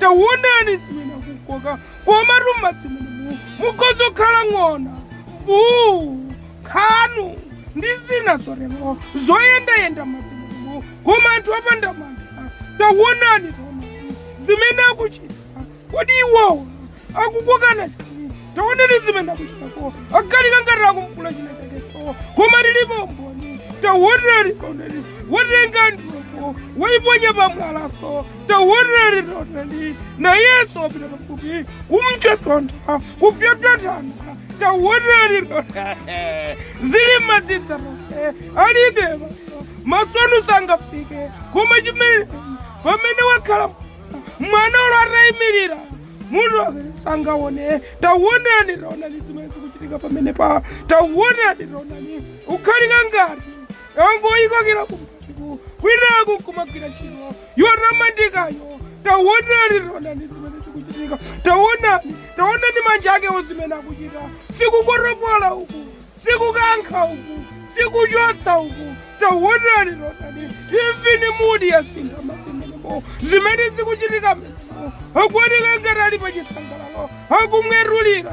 taonani zimene akukoka koma m'madzi munu mukhoza kukhala ng'ona mvuu nkhanu ndi zina zotero zoyendayenda m'madzi munu koma anthu opanda mantha taonani taonani zimene akuchita kodi iwowa akukokana chani taonani zimene akuchitako agalika ngati akumkula chinachakeso koma lilipo mboni taonani taonani watenga ndoko waiponya pamwalaso taonani taonani nayeso wapita pafupi kumchetontha kupyapyatana taonani taonani zili madzidza mose alibe maso masonu sangafike koma chimene pamene wakhala mwana ulo atayimirira munthu amene sangaone taonani taonani zimene zikuchitika pamene pa taonani taonani ukhalika ngati angoyikokera kumatiku kwinaku kumagwira ntchito yotamandikayo taonani taonani zimene zikuchitika taonani taonani manja akewo zimene akuchita sikukolopola uku sikukankha uku sikuchotsa uku taonani taonani imvini mudi yasintha m'madzi menemo zimene zikuchitika menemo akuoneka ngati ali pa chisangalalo akumwetulira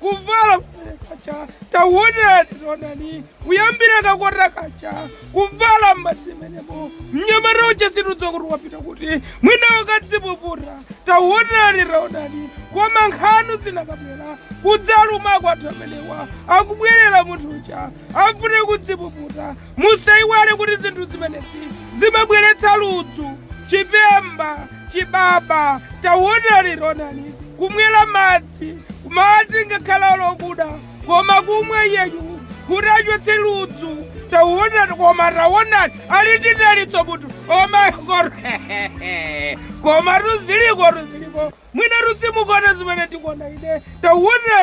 kuvala kacha tawonani taonani kuyambira kakota kacha kuvala m'madzi menemo mnyamata uja sitidziwa kuti wapita kuti mwina wakadzipuputa tawonani taonani koma nkhanu zinakabwera kudzaluma kwathu amenewa akubwerera munthu uja afune kudzipuputa musayiwale kuti zinthu zimenezi zimabweretsa ludzu chipemba chibaba tawonani taonani kumwera madzi madzi madzi ngakhala olokuda koma akumwa iyeyu kuti achotse ludzu tauonani koma taonani ali ndi dalitso munthu omaikoro koma ruziliko ruziliko mwinatu simukuona zimene ndikuona ine tauonani